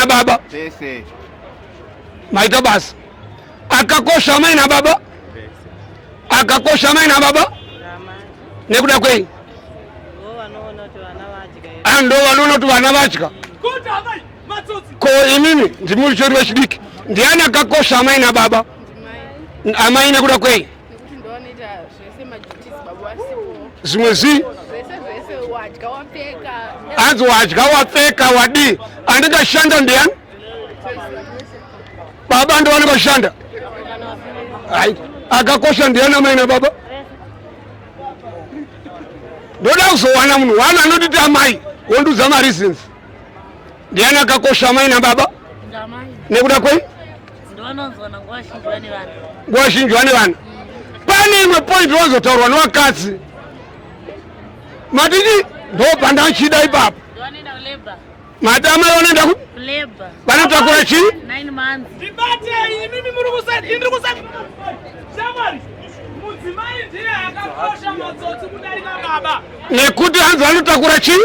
baba maita basa akakosha amai nababa akakosha amai nababa nekuda kwei ah, ndo vanoona kuti vana vatya ko inini ndimuri chori vechidiki ndiani akakosha amai nababa amai nekuda kwei zvimwe zvii hanzi wadya wapfeka wadii anenge ashanda ndiyani baba ndovanenge ashanda hai akakosha ndiyani amai nababa ndoda kuzowana munhu wani anotiti amai wondiudza mareasons ndiyani akakosha amai nababa nekuda kwei nguva zhinji vane vana pane imwe point wazotaurwa nevakadzi matiti ndobva ndachida ipapo mati amai vanoenda ku vanotakura chii nekuti hanzi vanotakura chii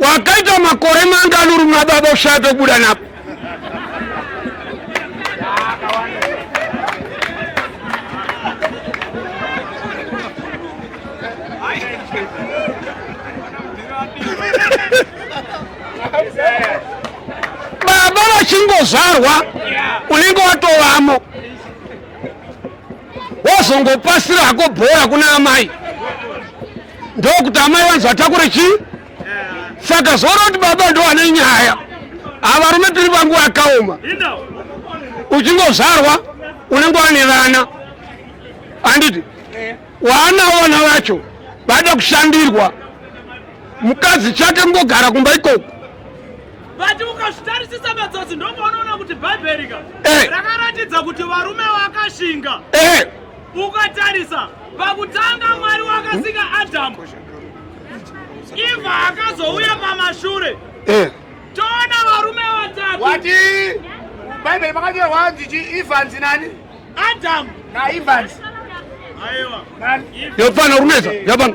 wakaita makore mangani uri muna baba ushaya pekubuda napo baba vachingozvarwa unenge watovamo wozongopasira hako bhora kuna amai ndokuti amai vanzi vatakure chii saka zvoona kuti baba ndo vane nyaya avarume tiri vangu vakaoma uchingozvarwa unenge wane vana anditi waana vana vacho vada kushandirwa mukadzi chake mungogara kumba ikoko vati ukazvitarisisa madzodzi ndomaunoona kuti bhaibheri ka eh. rakaratidza kuti varume vakashinga eh. Ukatarisa pakutanga Mwari wakasika Adamu, Eva akazouya pamashure. Eh. Toona varume vatatu. Wati Bible makanyorwa hanzi chi Evans nani? Adam na Evans. Aiwa. Yopana runeza, yabana.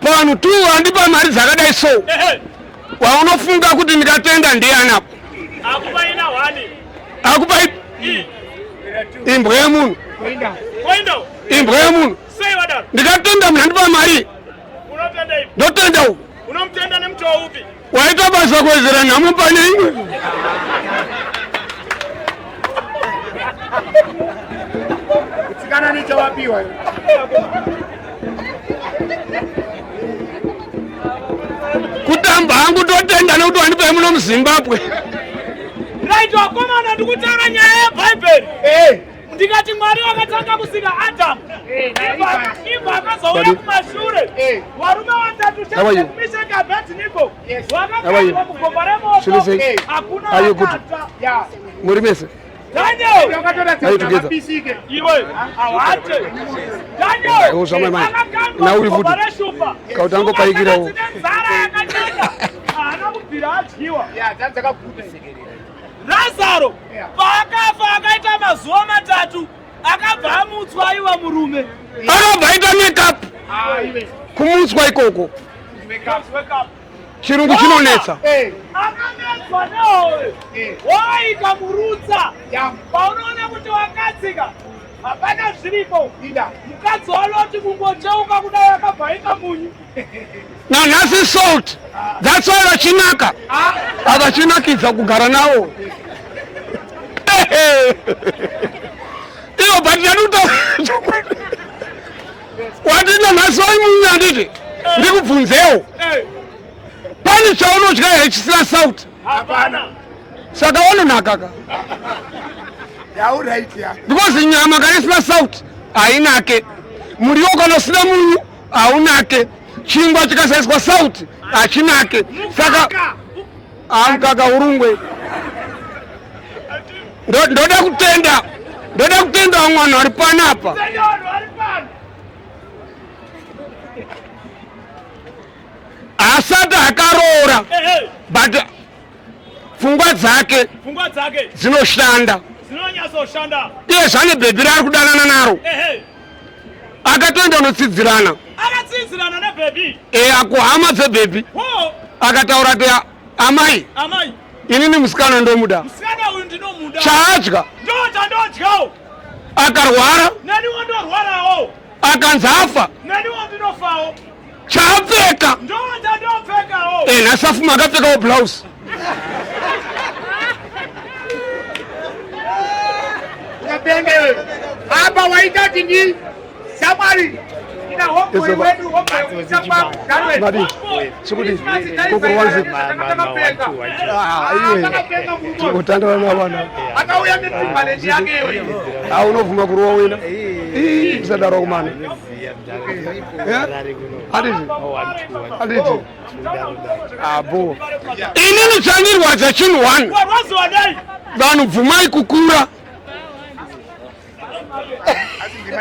Pano tu andipa mari dzakadai so waunofunga kuti ndikatenda ndiani apo akupa imbwa yemunhu imbwa yemunhu ndikatenda munhu andipa mari ndotenda uku Waita basa kuwedzera nhamo pane imwe. Kana nichawapiwa. Kutamba hangu totenda nekuti wandipa muno muZimbabwe. Right wakomana ndikutaura nyaya yeBhaibheri. Eh. ndikati mwari wakatanga kusika adamu ibva akazouya kumashure varume vatatu chemisheki abednigo vakaaa kugomba remoto hakuna akata muri mese nauri futi kauti angopaikirawo razaro paakafa akaita mazuva matatu akabva amutswa aiwa murume akabva aita makeup kumutswa ikoko chirungu chinonetsa akanetswa nehowe wovaita murutsa paunoona kuti wakadzika hapana zviripo mukadzi wanoti kungocheuka kudai akabva aita munyu nanhasi salt that's why vachinaka avachinakidza kugara nawo ivo but ndanuta wati nanhasi vaimunya handiti ndikubvunzewo pane chaunodya here chisina salt saka wanonakaka because nyama kana isina salt hainake muriwo kana usina munyu haunake chingwa chikasaiswa sauti hachinake saka amkaka urungwe ndoda kutenda ndoda kutenda vamwe vanhu vari pano apa asati akaroora but pfungwa dzake dzinoshanda iye zvane bhebhi raari kudanana naro akatoenda unotsidzirana akatsidzirana nebhebhi e akuhama dzebhebhi akataura ti amai amai inini musikana ndomuda musikana uyu ndinomuda chaadya ndochandodyawo akarwara neniwo ndorwarawo akanzi afa neniwo ndinofawo chaapfeka eh, nhasi afuma akapfekawo blouse apa waita tini samwari chikuti kokorwanzi totandana navana aunobvuma kurowa wena isadaro kumana abo inini chandirwadza chinhu one vanhu bvumai kukura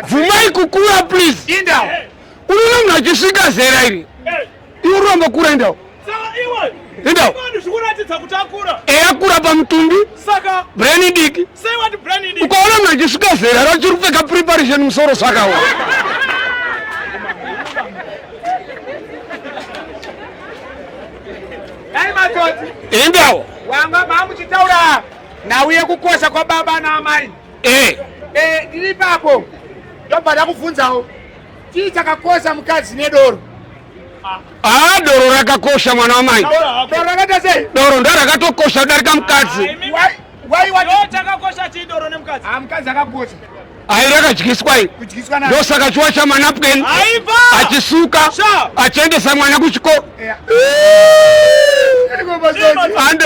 bvumai kukura please unono mnhu achisvika zera iri Iwe urombo kura endawo. Endawo. Eya eh, kura pamutumbi. Saka. Brain idiki. Say what brain idiki. Ukaona mna chisvika zera rachiri kupfeka preparation musoro saka wa. Endawo. Wanga mamuchitaura nhau yekukosha kwababa naamai. Eh. Eh, ndiri papo. Ndobva ndakubvunzawo. Chii chakakosha mukadzi nedoro? Ah, doro rakakosha mwana wamai. Doro rakaita sei? Doro ndo rakatokosha kudarika mukadzi. Ah, why why what? Chakakosha chii doro nemukadzi? Ah, mukadzi akakosha. Ayi rakadyiswa iyi. Kudyiswa nayo. Ndosaka chiwa cha manapkin. Aiva. Achisuka. Achiendesa mwana kuchikoro. Yeah. Ande.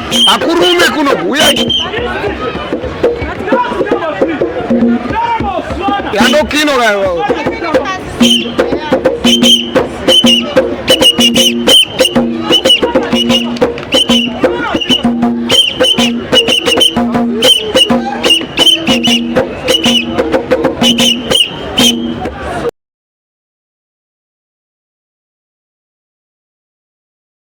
akurume kuno kuuya yandokino kayo